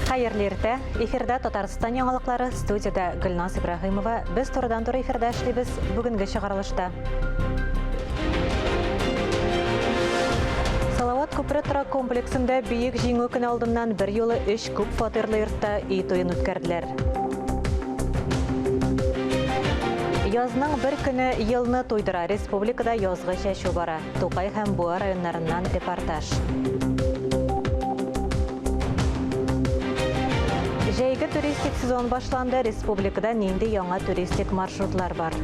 Хәерле иртә! Эфирда Татарстан яңалыклары, студиядә Гөлназ Ибраһимова. Без турыдан туры эфирда эшлибез. Бүгенге чыгарылышта. Салават күпре торак комплексында бөек җиңү көне алдыннан бер юлы өч күп фатирлы йортта өй туен үткәрделәр. Язның бер көне елны туйдыра. Республикада язгы чәчү бара. Тукай һәм Буа районнарыннан репортаж. Җәйге туристик сезон башланды. Республикада нинди яңа туристик маршрутлар бар?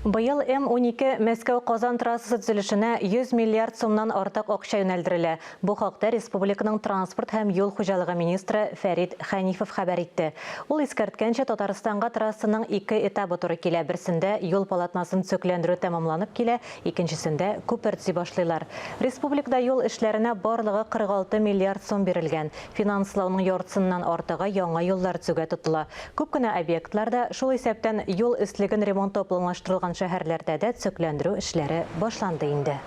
Быел М-12 Мәскәү-Казан трассасы төзелешенә 100 миллиард сумнан артык акча юнәлдерелә. Бу хакта республиканың транспорт һәм юл хуҗалыгы министры Фәрит Хәнифов хәбәр итте. Ул искәрткәнчә, Татарстанга трассаның ике этабы туры килә, берсендә юл полотнасын төзекләндерү тәмамланып килә, икенчесендә күпер төзи башлыйлар. Республикада юл эшләренә барлыгы 46 миллиард сум бирелгән. Финанслауның яртысыннан артыгы яңа юллар төзүгә тотыла. Күп кенә объектларда, шул исәптән юл өслеген ремонтлау планлаштырылган шәһәрләрдә дә төзекләндерү эшләре башланды инде.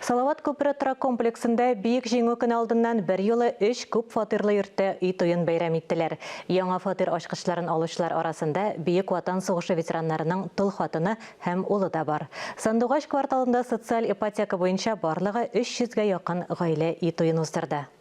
Салават күпере торак комплексында Бөек Җиңү көне алдыннан берьюлы өч күп фатирлы йортта өй туен бәйрәм иттеләр. Яңа фатир ачкычларын алучылар арасында Бөек Ватан сугышы ветераннарының тол хатыны һәм улы да бар. Сандугач кварталында социаль ипотека буенча барлыгы 300 гә якын гаилә өй туен уздырды.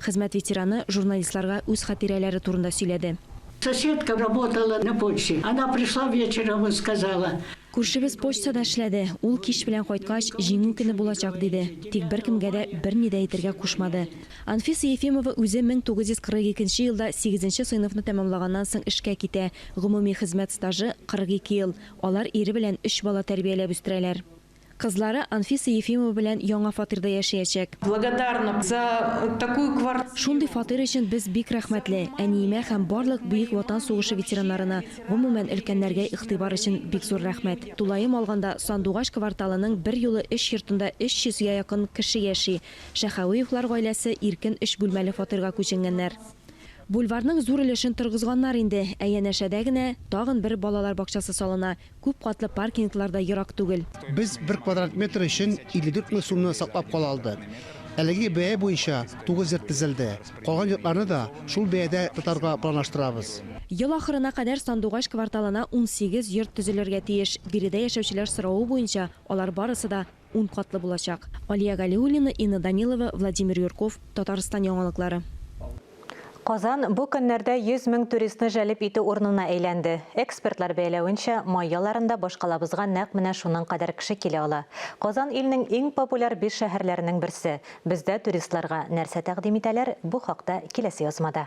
Хезмәт ветераны журналистларга үз хатирәләре турында сөйләде. Соседка работала на почте. Она пришла вечером и сказала. Күршебез почтада эшләде. Ул кич белән кайткач, Җиңү көне булачак, диде. Тик беркемгә дә берни дә әйтергә кушмады. Анфиса Ефимова үзе 1942 нче елда сигезенче сыйныфны тәмамлаганнан соң эшкә китә. Гомуми хезмәт стажы, 42 ел. Алар ире белән өч бала тәрбияләп үстерәләр. Кызлары Анфиса Ефимова белән яңа фатирда яшәячәк. Благодарна за такую квартиру. Шундый фатир өчен без бик рәхмәтле. Әниемә һәм барлык Бөек Ватан сугышы ветераннарына, гомумән, өлкәннәргә игътибар өчен бик зур рәхмәт. Тулаем алганда, Сандугач кварталының берьюлы өч йортында 300 гә якын кеше яши. Шәхәвеевлар гаиләсе иркен өч бүлмәле фатирга күченгәннәр. Бульварның зур өлешен торгызганнар инде, ә янәшәдә генә тагын бер балалар бакчасы салына. Күп катлы паркинглар да ерак түгел. Без бер квадрат метр өчен 54 мең сумны саклап кала алдык. Әлеге бәя буенча тугыз йорт төзелде. Калган йортларны да шул бәядә тотарга планлаштырабыз. Ел ахырына кадәр Сандугач кварталына унсигез йорт төзелергә тиеш. Биредә яшәүчеләр соравы буенча, алар барысы да. Ун катлы булачак. Алия Галиуллина, Инна Данилова, Владимир Юрков, Татарстан яңалыклары. Казан бу көннәрдә 100 мең туристны җәлеп итү урынына әйләнде. Экспертлар бәяләвенчә, май яларында башкалабызга нәкъ менә шуның кадәр кеше килә ала. Казан илнең иң популяр биш шәһәрләренең берсе. Бездә туристларга нәрсә тәкъдим итәләр, бу хакта киләсе язмада.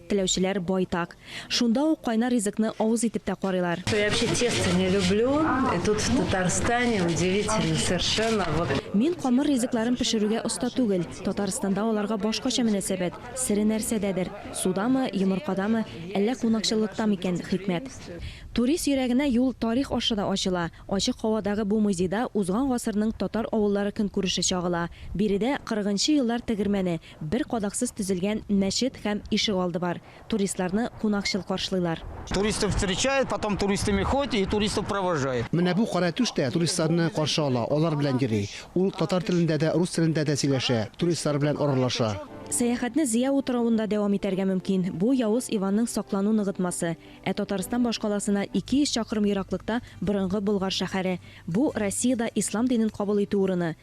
Теләүчеләр байтак. Шунда ук кайнар ризыкны авыз итеп тә карыйлар. Я вообще тесто не люблю, и тут в Татарстане удивительно совершенно вот. Мин камыр ризыкларын пешерүгә оста түгел, Татарстанда аларга башкача мөнәсәбәт, сере нәрсәдәдер, судамы, йомыркадамы, әллә кунакчыллыкта микән, хикмәт. Турист йөрәгенә юл тарих аша да ачыла, ачык һавадагы бу музейда узган гасырның татар авыллары көнкүреше чагыла, биредә кырыгынчы еллар тегермәне, Бер кадаксыз төзелгән мәчет һәм ишегалды бар. Туристларны кунакчыл каршылыйлар. Туристы встречает, потом туристами ходит и туристов провожает. Менә бу каратүш тә туристларны каршы ала, алар белән йөри. Ул татар телендә дә, рус телендә дә сөйләшә, туристлар белән аралаша. Сәяхәтне Зөя утравында дәвам итәргә мөмкин. Бу Явыз Иванның саклану ныгытмасы. Ә Татарстан башкаласына 200 чакрым ераклыкта борынгы Болгар шәһәре. Бу, Россиядә ислам динен кабул итү урыны.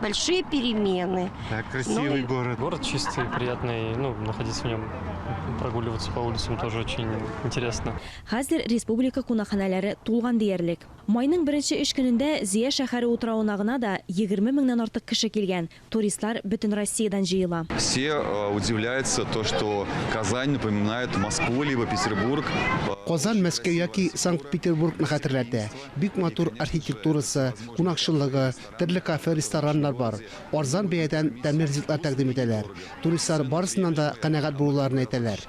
большие перемены. Да, красивый ну, город. Город чистый, приятный, ну, находиться в нем, прогуливаться по улицам тоже очень интересно. Хәзер республика кунакханәләре тулган диярлек. Майның беренче өч көнендә Зия шәһәре утравына гына да 20 меңнән артык кеше килгән. Туристлар бөтен Россиядән җыела. Все э, удивляются то, что Казань напоминает Москву либо Петербург. Казан Мәскәү яки Санкт-Петербургны хәтерләтә. Бик матур архитектурасы, кунакчылыгы, Төрле кафе, рестораннар бар. Арзан бәядән тәмле ризыклар тәкъдим итәләр. Туристлар барысыннан да канәгать булуларын әйтәләр.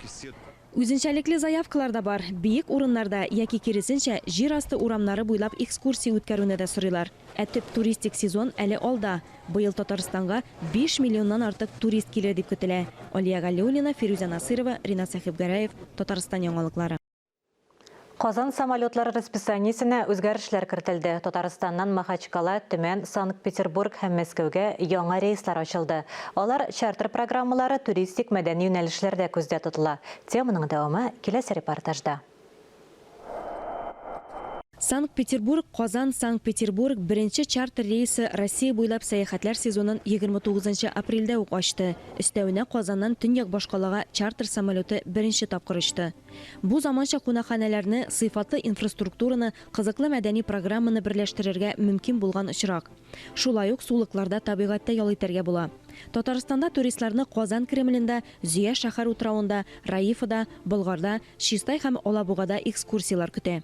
Үзенчәлекле заявкалар да бар, биек урыннарда яки, киресенчә, җир асты урамнары буйлап экскурсия үткәрүне дә сорыйлар. Ә төп туристик сезон әле алда. Быел Татарстанга биш миллионнан артык турист килер дип көтелә. Алия Галиуллина, Фирүзә Насыйрова, Ринат Сәхибгәрәев, Татарстан яңалыклары. Казан самолетлары расписаниесенә үзгәрешләр кертелде. Татарстаннан Махачкала, Төмән, Санкт-Петербург һәм Мәскәүгә яңа рейслар ачылды. Алар чартер программалары, туристик, мәдәни юнәлешләрдә күздә тотыла. Теманың дәвамы киләсе репортажда. Санкт-Петербург, Казан, Санкт-Петербург беренче чартер рейсы Россия буйлап сәяхәтләр сезонын 29 нчы апрельдә үк ачты. Өстәвенә Казаннан төньяк башкалага чартер самолеты беренче тапкыр очты. Бу заманча кунакханәләрне, сыйфатлы инфраструктураны, кызыклы мәдәни программаны берләштерергә мөмкин булган очрак. Шулай ук сулыкларда табигатьтә ял итәргә була. Татарстанда туристларны Казан Кремлендә, Зөя шәһәр утравында, Раифада, Болгарда, Чистай һәм Алабугада экскурсияләр көтә.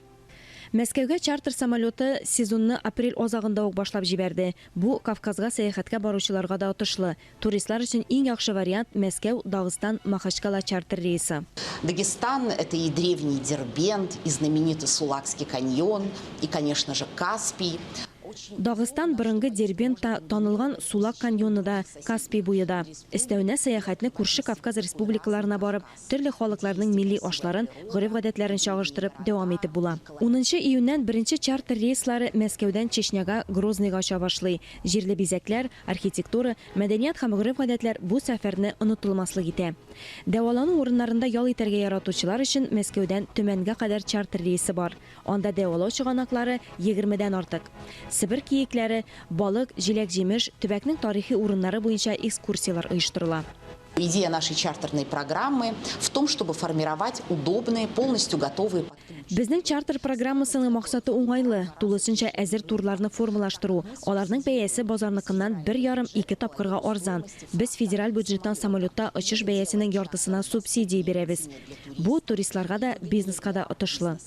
Мәскәүгә чартер самолеты сезонны апрель азагында ук башлап җибәрде. Бу, Кавказга сәяхәткә баручыларга да отышлы. Туристлар өчен иң яхшы вариант, Мәскәү, Дагыстан, Махачкала чартер рейсы. Дагестан, это и древний Дербент, и знаменитый Сулакский каньон, и, конечно же, Каспий. Дагыстан, борынгы Дербент та, танылган Сулак каньоны да, Каспий буе да. Өстәвенә, сәяхәтне күрше Кавказ республикаларына барып, Төрле халыкларның милли ашларын, гореф-гадәтләрен чагыштырып, дәвам итеп була. Унынчы июньнән беренче чартер рейслары Мәскәүдән Чечняга, Грозныйга оча башлый. Җирле бизәкләр, архитектура, мәдәният һәм гореф-гадәтләр бу сәфәрне онытылмаслык итә. Дәвалану урыннарында ял итәргә яратучылар өчен Мәскәүдән Төмәнгә кадәр чартер рейсы бар. Анда дәвалау чыганаклары егермедән артык. Себер киекләре, балык, җиләк-җимеш, төбәкнең тарихи урыннары буенча экскурсияләр оештырыла. Идея нашей чартерной программы в том, чтобы формировать удобные, полностью готовые подписчики. Безнең чартер программасының максаты уңайлы, тулысынча әзер турларны формалаштыру. Аларның бәясе базарныкыннан бер ярым-ике тапкырга арзан. Без федераль бюджеттан самолетта очыш бәясенең яртысына субсидия бирәбез. Бу, туристларга да, бизнеска да отышлы.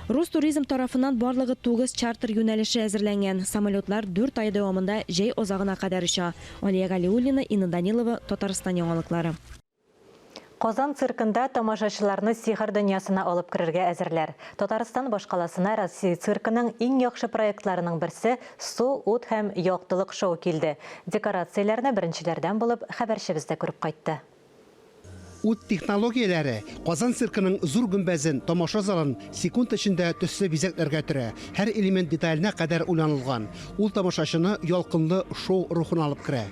Рустуризм тарафыннан барлыгы тугыз чартер юнәлеше әзерләнгән. Самолетлар дүрт ай дәвамында җәй азагына кадәр оча. Алия Галиуллина, Инна Данилова, Татарстан яңалыклары. Казан циркында тамашачыларны сихер дөньясына алып керергә әзерләр. Татарстан башкаласына Россия циркының иң яхшы проектларының берсе Су, ут һәм яктылык шоу килде. Декорацияләрне беренчеләрдән булып хәбәрчебез дә күреп кайтты. Ут технологияләре Казан циркының зур гөмбәзен, тамаша залын секунд эчендә төсле бизәкләргә төрә, һәр элемент деталенә кадәр уйланылган. Ул тамашачыны ялкынлы шоу рухына алып керә.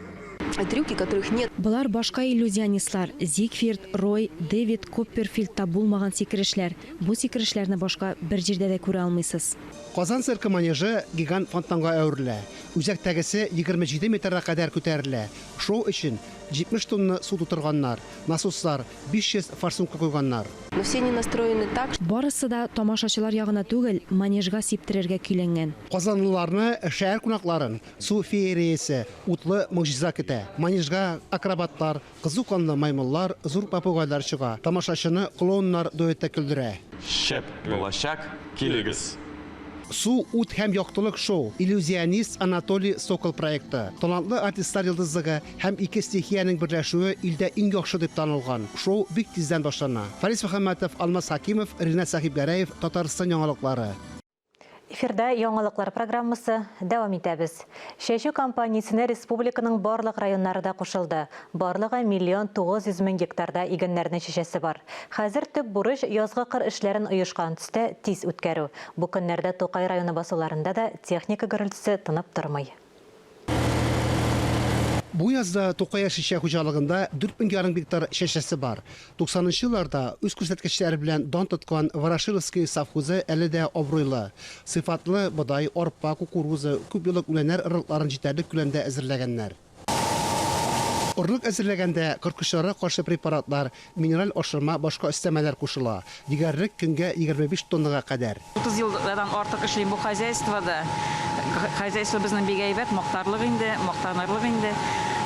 Трюки, которых нет. Болар башка иллюзионистлар, Зигфирд, Рой, Дэвид Копперфильдта булмаган сикерешләр. Бу сикерешләрне башка бер җирдә дә күрә алмыйсыз. Казан циркы манежы гигант фонтанга әверелә. Үзәктәгесе егерме җиде метрга кадәр күтәрелә. Шоу өчен 70 тонна су тутырганнар, насослар 500 форсункка куйганнар. Но все они настроены так, что. Барысы да тамашачылар ягына түгел, манежга сиптерергә көйләнгән. Казанлыларны, шәһәр кунакларын су феериясе, утлы могҗиза көтә. Манежга акробатлар, кызу канлы маймыллар, зур попугайлар чыга. Тамашачыны клоуннар дуэты көлдерә. Шәп булачак, килегез! Су, ут һәм яктылык шоу, иллюзионист Анатолий Сокол проекты, талантлы артистлар йолдызлыгы һәм ике стихиянең берләшүе илдә иң яхшы дип танылган шоу бик тиздән башлана. Фарис Мөхәммәтов, Алмаз Хәкимов, Ринат Сәхибгәрәев, Татарстан яңалыклары. Эфирда яңалыклар программасы, дәвам итәбез. Чәчү кампаниясенә республиканың барлык районнары да кушылды. Барлыгы миллион 900 мең гектарда игеннәрне чәчәсе бар. Хәзер төп бурыч, язгы кыр эшләрен оешкан төстә, тиз үткәрү. Бу көннәрдә Тукай районы басуларында да техника гөрелтесе тынып тормый. Бу язда Тукай яшелчә хуҗалыгында дүрт мең ярым гектар чәчәсе бар. Туксанынчы елларда үз күрсәткечләре белән дан тоткан Ворошиловское совхозы әле дә абруйлы, сыйфатлы бодай, арпа, кукуруза, күпьеллык үләннәр орлыкларын җитәрлек күләмдә әзерләгәннәр. Орлык әзерләгәндә корткычларга каршы препаратлар, минераль ашырма, башка өстәмәләр кушыла, дигәрлек көнгә егерме биш тоннага кадәр. Утыз елдан артык эшлим бу хозяйствода. Хозяйствобызның бик әйбәт, мактарлык инде, мактанырлык инде.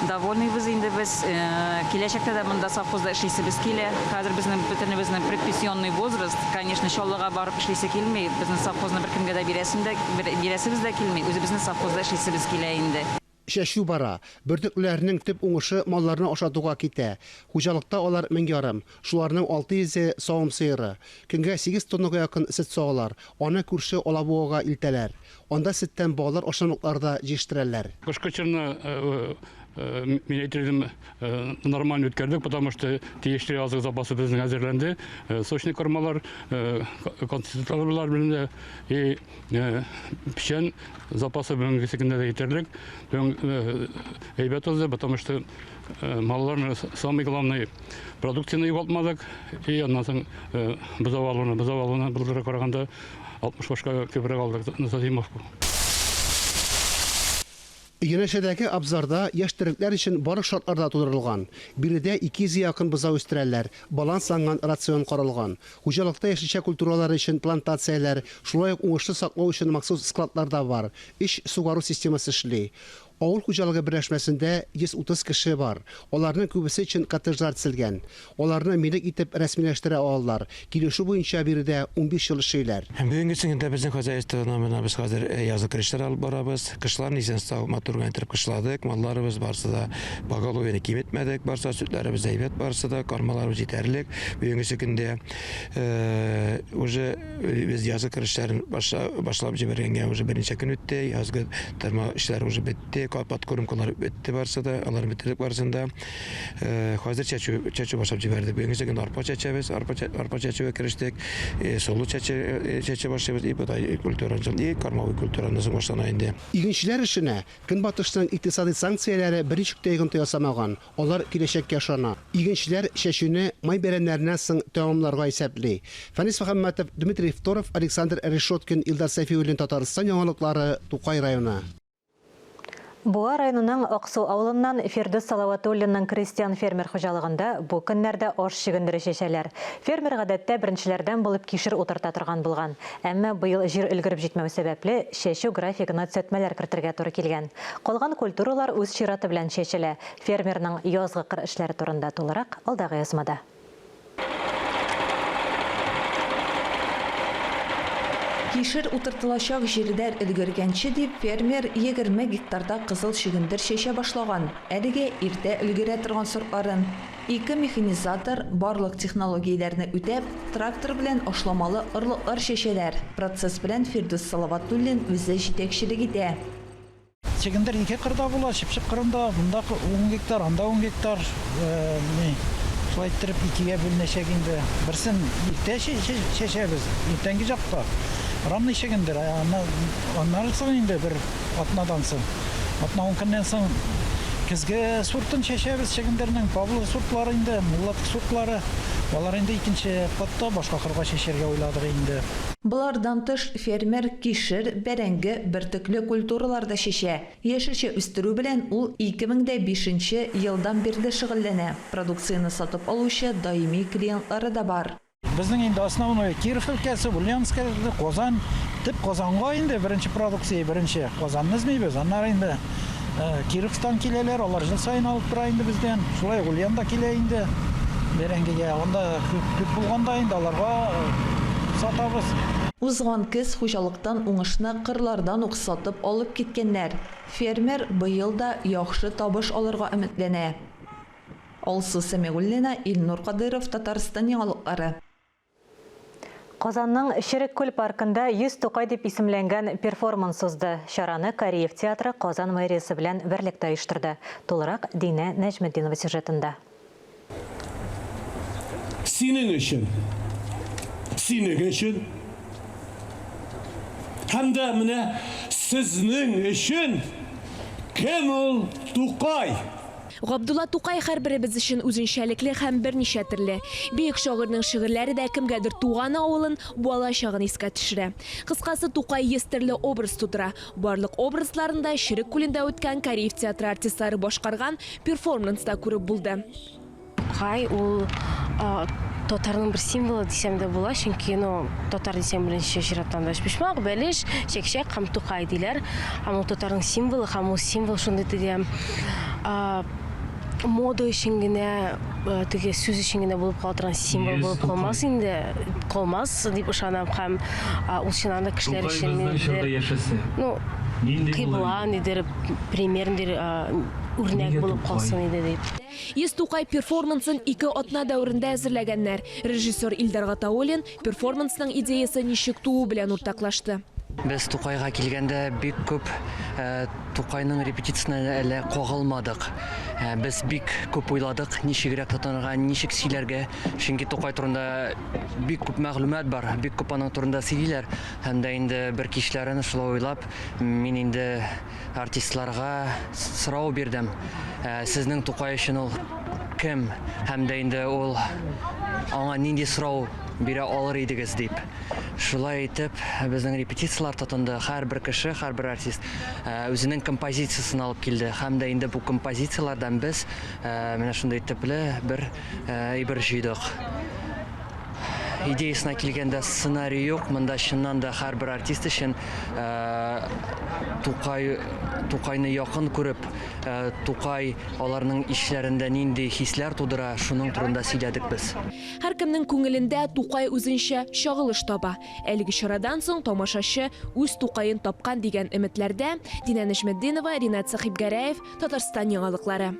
Довольныйбыз инде без. Киләчәктә дә монда совхозда эшлисебез килә. Хәзер безнең бөтенебезнең предпенсионный возраст. Конечно, Чаллыга барып эшлисе килми. Безнең совхозны беркемгә дә бирәсем дә, бирәсебез дә килми. Үзебезнең совхозда эшлисебез килә инде. Чәчү бара. Бөртеклеләрнең төп уңышы малларны ашатуга китә. Хуҗалыкта алар мең ярым, шуларның алты йөзе, савым сыеры. Көнгә сигез тоннага якын сөт сагалар, аны күрше Алабугага илтәләр. Анда сөттән баллар ашамлыклар да җиештерәләр. Кышкы чорны мин әйтер идем, нормально үткәрдек, потому что тиешле азык запасы безнең әзерләнде. Сочный кормалар, концертлар белән дә. Э, печән запасы бүгенге көннә дә җитәрлек. Бүген э, әйбәт узды, потому что э, малларны самый главный продукцияне югалтмадык. И аннан соң бозау алуны, бозау алуны былтырга караганда 60 башка күбрәк алдык Назимовку. Янәшәдәге абзарда яшь терлекләр өчен барлык шартлар да тудырылган. Биредә 200 гә якын бозау үстерәләр, балансланган рацион каралган. Хуҗалыкта яшелчә культуралары өчен плантацияләр, шулай ук уңышлы саклау өчен махсус складлар да бар. Өч сугару системасы эшли. Авыл хуҗалыгы берләшмәсендә 130 кеше бар. Аларның күбесе өчен коттеджлар төзелгән. Аларны милек итеп рәсмиләштерә алалар. Килешү буенча биредә унбиш ел эшлиләр. Һәм бүгенге көндә безнең хозяйствода менә без хәзер язгы көлешләр алып барабыз. Кышларын исән сау, матур гына иттереп кышладык. Малларыбыз барысы да поголовьены киметмәдек. Барысы да сөтләребез әйбәт барысы да, кармаларыбыз җитәрлек. Бүгенгесе көндә уже без язгы көлешләрен башлап җибәргәнгә уже берничә көн үтте. Язгы тырма эшләре уже бетте. Подкормкалар бетте барысы да. Алар бетердек барысын да. Хәзер чәчү, чәчү башлап җибәрдек. Бүгенгечә генә арпа чәчәбез, арпа, арпа чәчүгә керештек. Э, солы чәчә, чәчә башлыйбыз, и бодай культураны соң, и кормовой культураны соң башлана инде. Игенчеләр эшенә Көнбатышның икътисадый санкцияләре берничек тә йогынты ясамаган, алар киләчәккә ышана. Игенчеләр чәчүне май бәйрәмнәреннән соң тәмамларга исәпли. Фәнис Мөхәммәтов, Дмитрий Второв, Александр Решеткин, Илдар Сәфиуллин Татарстан яңалыклары, Тукай районы. Буа районының Аксу авылыннан Фирдүс Салаватуллинның крестьян-фермер хуҗалыгында бу көннәрдә аш чөгендере чәчәләр. Фермер гадәттә беренчеләрдән булып кишер утырта торган булган. Әмма быел җир өлгереп җитмәү сәбәпле, чәчү графигына төзәтмәләр кертергә туры килгән. Калган культуралар үз чираты белән чәчелә. Фермерның язгы кыр эшләре турында тулырак, алдагы язмада. Кишер утыртылачак җирләр өлгергәнче дип, фермер егерме гектарда кызыл чөгендер чәчә башлаган. Әлегә иртә өлгерә торган сортларын, ике механизатор, барлык технологияләрне үтәп, трактор белән ашламалы орлыклар чәчәләр. Процесс белән Фирдүс Салаватуллин үзе җитәкчелек итә. Чөгендер ике кырда була, чыпчык кырында, монда ун гектар, анда ун гектар. Шулай иттереп икегә бүленәчәк инде. Берсен иртә чәчәбез, иртәнге чакта. Рамный чөгендер, аннан соң инде бер атнадан соң, атна ун көннән соң көзге сортын чәчәбез чөгендернең. Павлов сортлары инде, Муллат сортлары. Алар инде икенче катта башка кырга чәчәргә уйладык инде. Болардан тыш, Фермер кишер, бәрәңге, бөртекле культуралар да чәчә. Яшелчә үстерү белән ул 2005 нче елдан бирле шөгыльләнә, продукцияне сатып алучы даими клиентлары да бар. Безнең инде основное Киров өлкәсе, Ульяновск өлкәсе, Казан. Төп Казанга инде беренче продукция, беренче Казанны эзлибез, аннары инде. Ә, Кировтан киләләр, алар жыл сайын алып тора инде бездән. Шулай Гульян да килә инде. Бәрәңгегә анда күп, күп булганда инде аларга сатабыз. Узган көз хуҗалыктан уңышны кырлардан ук сатып алып киткәннәр. Фермер быел да яхшы табыш алырга өметләнә. Алсу Сәмигуллина, Илнур Кадыйров, Татарстан яңалыклары. Казанның Черек күл паркында 100 Тукай дип исемләнгән перформанс узды. Чараны Кариев театры Казан мэриясе белән берлектә оештырды. Тулырак Динә Нәҗметдинова сюжетында. Синең өчен, синең өчен һәм дә менә сезнең өчен кем ул Тукай? Габдулла Тукай һәрберебез өчен үзенчәлекле һәм берничә төрле. Бөек шагыйрьнең шигырьләре дә кемгәдер туган авылын, бала чагын искә төшерә. Кыскасы, Тукай йөз төрле образ тудыра. Барлык образларын да Черек күлендә үткән Кариев театры артистлары башкарган перформнста күреп булды. Тукай ул татарның бер символы дисәң дә була, чөнки, ну, татар дисәң, беренче чираттан бәлешбочмак, бәлеш, чәкчәк һәм Тукай диләр. Һәм ул татарның символы һәм ул символ шундый теге, мода өчен генә теге сүз өчен генә булып кала торган символ булып калмас инде, калмас дип ышанам һәм ул чыннан да кешеләр өчен ниндидер, ну, кыйбла, ниндидер пример, ниндидер үрнәк булып калсын иде дип. Йөз Тукай перформансын ике атна дәверендә әзерләгәннәр. Режиссер Илдар Гатауллин, Перформансның идеясы ничек туу белән уртаклашты? Без Тукайга килгәндә бик күп Тукайның репетициясенә әле кагылмадык. Без бик күп уйладык, ничегрәк тотынырга, ничек сөйләргә, чөнки Тукай турында бик күп мәгълүмат бар, бик күп аның турында сөйлиләр. Һәм дә инде бер кичләрен шулай уйлап, мин инде Артистларга сорау бирдем, сезнең Тукай өчен ул кем һәм дә инде ул аңа нинди сорау бирә алыр идегез дип. Шулай итеп, безнең репетицияләр тотынды. Һәрбер кеше, һәрбер артист үзенең композициясен алып килде һәм дә инде бу композицияләрдән без менә шундый төпле бер Әйбер җыйдык. Идеясына килгәндә, сценарий юк. Монда чыннан да һәрбер артист өчен Тукай, Тукайны якын күреп, Тукай аларның ичләрендә нинди хисләр тудыра, шуның турында сөйләдек без. Һәркемнең күңелендә Тукай үзенчә чагылыш таба. Әлеге чарадан соң тамашачы үз Тукаен тапкан дигән өметләрдә. Динә Нәҗметдинова, Ринат Сәхибгәрәев, Татарстан яңалыклары.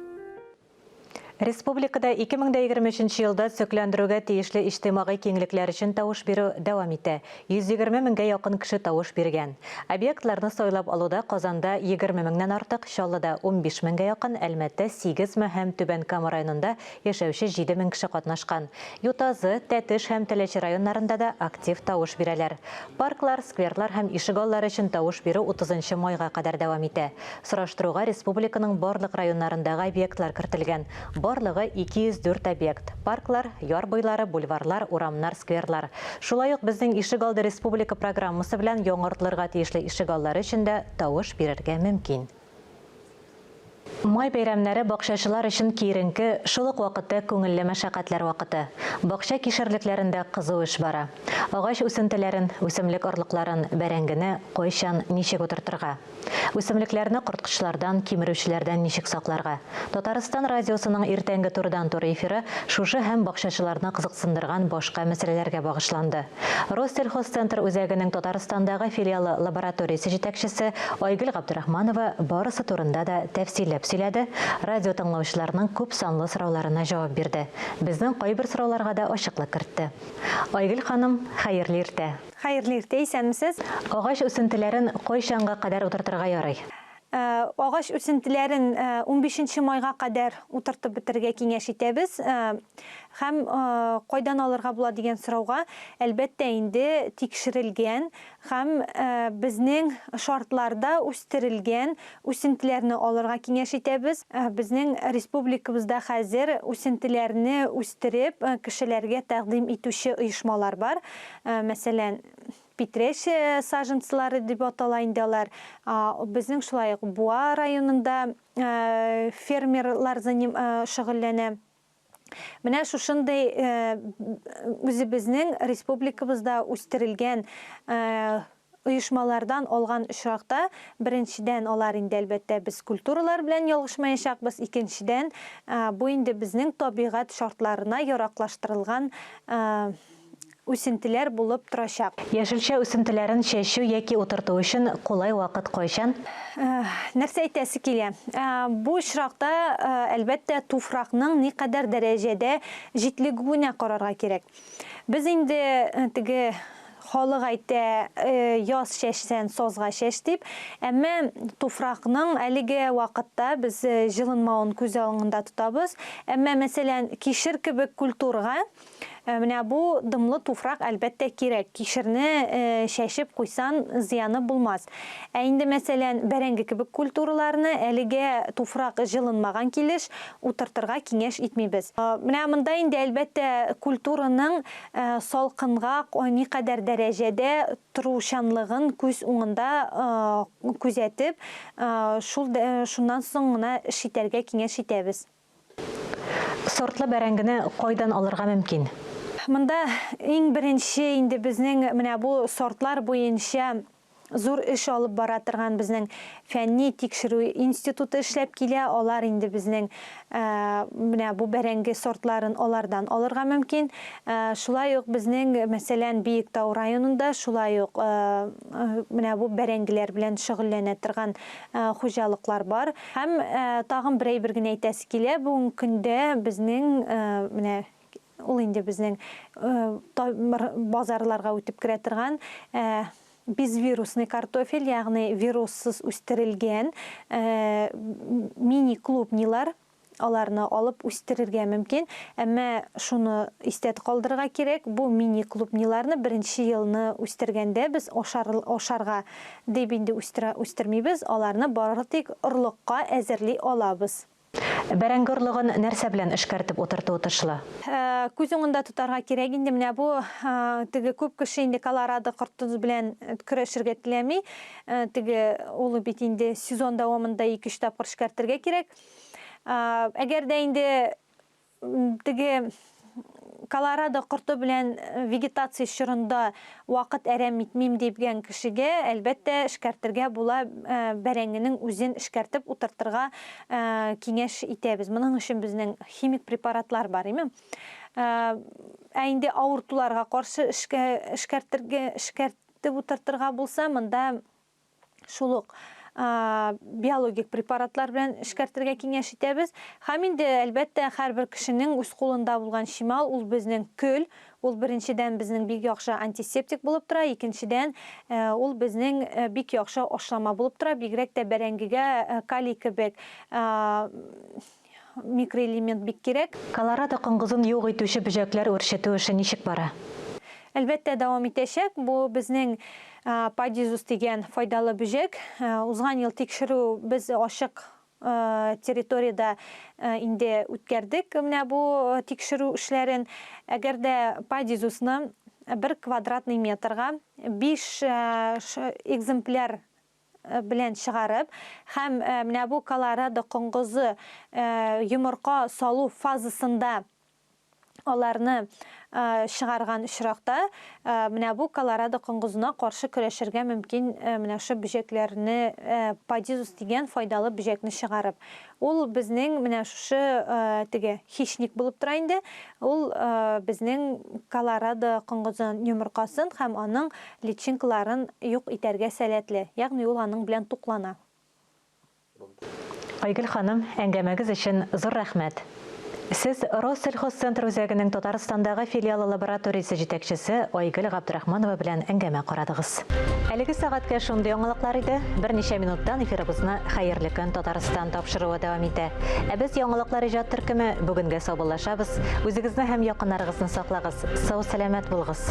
Республикада 2023 елда төзекләндерүгә тиешле иҗтимагый киңлекләр өчен тавыш бирү дәвам итә. 120 меңгә якын кеше тавыш биргән. Объектларны сайлап алуда Казанда, 20 меңнән артык, Чаллыда, 15 меңгә якын, Әлмәттә, 8 ме һәм Түбән Кама районында яшәүче 7 мең кеше катнашкан. Ютазы, Тәтеш һәм Теләче районнарында да актив тавыш бирәләр. Парклар, скверлар һәм ишегаллары өчен тавыш бирү утызынчы майга кадәр дәвам итә. Сораштыруга республиканың барлык районнарындагы объектлар кертелгән. Барлыгы 204 объект, парклар, яр буйлары, бульварлар, урамнар, скверлар. Шулай ук Безнең ишегалды республика программасы белән яңартылырга тиешле ишегаллары өчен дә тавыш бирергә мөмкин. Май бәйрәмнәре бакчачылар өчен киеренке, шул ук вакытта күңелле мәшәкатьләр вакыты. Бакча кишерлекләрендә кызу эш бара. Агач үсентеләрен, үсемлек орлыкларын, бәрәңгене кайчан, ничек утыртырга? Үсемлекләрне корткычлардан, кимерүчеләрдән ничек сакларга? Татарстан радиосының иртәнге турыдан-туры эфиры шушы һәм бакчачыларны кызыксындырган башка мәсьәләләргә багышланды. Россельхозцентр үзәгенең Татарстандагы филиалы лабораториясе җитәкчесе Айгөл Габдрахманова барысы турында да тәфсилләп сөйләде, радиотыңлаучыларның күп санлы сорауларына җавап бирде, безнең кайбер сорауларга да ачыклык кертте. Айгөл ханым, хәерле иртә! Хәерле иртә, исәнмесез! Агач үсентеләрен кайчанга кадәр утыртырга ярый? Агач үсентеләрен унбишенче майга кадәр утыртып бетерергә киңәш итәбез. Һәм кайдан алырга була дигән сорауга, әлбәттә инде, тикшерелгән һәм безнең шартларда үстерелгән үсентеләрне алырга киңәш итәбез. Безнең республикабызда хәзер үсентеләрне үстереп, кешеләргә тәкъдим итүче оешмалар бар. Мәсәлән. Питрәч саженцылары дип атала инде алар. Безнең шулай ук Буа районында фермерлар шөгыльләнә. Менә шушындый үзебезнең республикабызда үстерелгән оешмалардан алган очракта, беренчедән, алар инде, әлбәттә, без культуралар белән ялгышмаячакбыз, икенчедән, бу инде безнең табигать шартларына яраклаштырылган үсентеләр булып торачак. Яшелчә үсентеләрен чәчү яки утырту өчен кулай вакыт кайчан? Нәрсә әйтәсе килә? Бу очракта, әлбәттә, туфракның никадәр дәрәҗәдә җитлегүенә карарга кирәк. Без инде теге халык әйтә, яз чәчсән, сазга чәч дип. Әмма туфракның әлеге вакытта без җылынмавын күз алыңында тотабыз. Әмма, мәсәлән, кишер кебек культурга Э, менә бу дымлы туфрак әлбәттә кирәк. Кишерне э, чәчеп куйсан зыяны булмас. Ә инде мәсәлән, бәрәңге кебек культураларны әлегә туфрак җылынмаган килеш утыртырга киңәш итмибез. Э, менә монда инде әлбәттә культураның салкынга никадәр дәрәҗәдә торучанлыгын күз уңында күзәтеп, шул шуннан соң гына эш итәргә киңәш итәбез. Сортлы бәрәңгене кайдан алырга мөмкин? Монда иң беренче инде безнең менә бу сортлар буенча зур эш алып бара торган безнең фәнни тикшерү институты эшләп килә. Алар инде безнең менә бу бәрәңге сортларын алардан алырга мөмкин. Шулай ук безнең, мәсәлән, Биектау районында шулай ук менә бу бәрәңгеләр белән шөгыльләнә торган хуҗалыклар бар. Һәм тагын бер әйбер генә әйтәсе килә, бүгенге көндә безнең менә ул инде безнең базарларга үтеп керә торган безвирусный картофель, ягъни вируссыз үстерелгән мини клубнилар, аларны алып үстерергә мөмкин. Әмма шуны истә калдырырга кирәк, бу мини клубниларны беренче елны үстергәндә без ашарга Дип инде үстерә үстермибез, аларны бары тик орлыкка әзерли алабыз. Бәрәңге орлыгын нәрсә белән эшкәртеп утырту отышлы? Күз уңында тотарга кирәк инде, менә бу теге күп кеше инде колорадо корты белән көрәшергә теләми, теге ул бит инде сезон дәвамында ике-өч тапкыр эшкәртергә кирәк. Әгәр дә инде Теге Колорадо корты белән вегетация чорында вакыт әрәм итмим дигән кешегә, әлбәттә, эшкәртергә була, бәрәңгенең үзен эшкәртеп утыртырга киңәш итәбез. Моның өчен безнең химик препаратлар бар, име? Ә инде авыртуларга каршы эшкәртергә, эшкәртеп утыртырга булса, монда шул ук биологик препаратлар белән эшкәртергә киңәш итәбез. Һәм инде, әлбәттә, һәрбер кешенең үз кулында булган чимал, ул безнең көл. Ул беренчедән безнең бик яхшы антисептик булып тора, икенчедән ул безнең бик яхшы ашлама булып тора, бигрәк тә бәрәңгегә калий кебек микроэлемент бик кирәк. Колорадо коңгызын юк итүче бөҗәкләр үрчетү эше ничек бара? Әлбәттә, дәвам итәчәк. Бу безнең Падизус дигән файдалы бөҗәк. Узган ел тикшерү без ачык территориядә инде үткәрдек менә бу тикшерү эшләрен. Әгәр дә Падизусны бер квадратный метрга биш экземпляр белән чыгарып һәм менә бу колорадо коңгызы йомырка салу фазасында аларны чыгарган очракта менә бу колорадо коңгызына каршы көрәшергә мөмкин менә шул бөҗәкләрне подизус дигән файдалы бөҗәкне чыгарып Ул безнең менә шушы теге хищник булып тора инде. Ул безнең Колорадо коңгызын йомыркасын һәм аның личинкаларын юк итәргә сәләтле, ягъни ул аның белән туклана. Айгөл ханым, әңгәмәгез өчен зур рәхмәт! Сез Россельхозцентр үзәгенең Татарстандагы филиалы лабораториясе җитәкчесе Айгөл Габдрахманова белән әңгәмә карадыгыз. Әлеге сәгатькә шундый яңалыклар иде. Берничә минуттан эфирыбызны Хәерле көн, Татарстан тапшыруы дәвам итә. Ә без Яңалыклар иҗат төркеме бүгенгә саубуллашабыз. Үзегезне һәм якыннарыгызны саклагыз, сау-сәламәт булыгыз!